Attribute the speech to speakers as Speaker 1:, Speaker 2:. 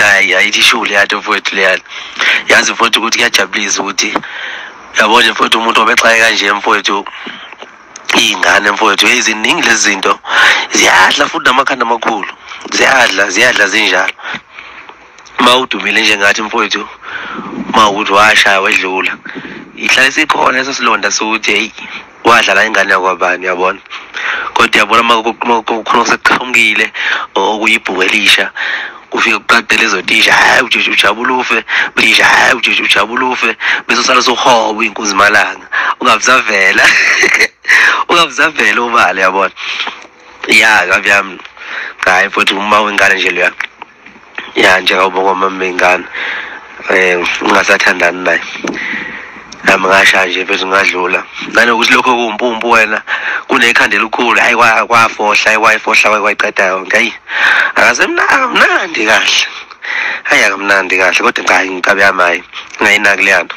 Speaker 1: hayi ayithi ishuku leyani mfowethu leyani yazi mfowethu ukuthi kuyajabulisa ukuthi yabo nje mfowethu umuntu obexaye kanje mfowethu iy'ngane mfowethu yeyi ziningi lezi zinto ziyadla futhi namakhanda amakhulu ziyadla ziyadla zinjalo uma udumile njengathi mfowethu uma ukuthi washaya wedlula ihlale sikhona eso silonda sokuthi heyi wadlala ingane yakwabani yabona kodwa yabona uma kukhona oseqhamukile okuyibhuku elisha ufike kuqade lezo tisha hayi ujeje ujabula ufe tisha hayi ujeje ujabula ufe bese usala sohoba inkunzi malanga ungabuzavela ungabuzavela ubale yabona ya kabi yami hayi futhi uma wengane nje leya ya njengoba kwamamengane eh ngingasathandani naye nami ngasha nje bese ngadlula nanokuthi lokho kuwumpumpu wena kunekhanda elikhulu hayi kwafohla ayikwayifohla kwayiqeda yonke hayi akasemnandi kahle hayi akamnandi kahle kodwa ngayi ngikabe yamayi ngayinaki leyanto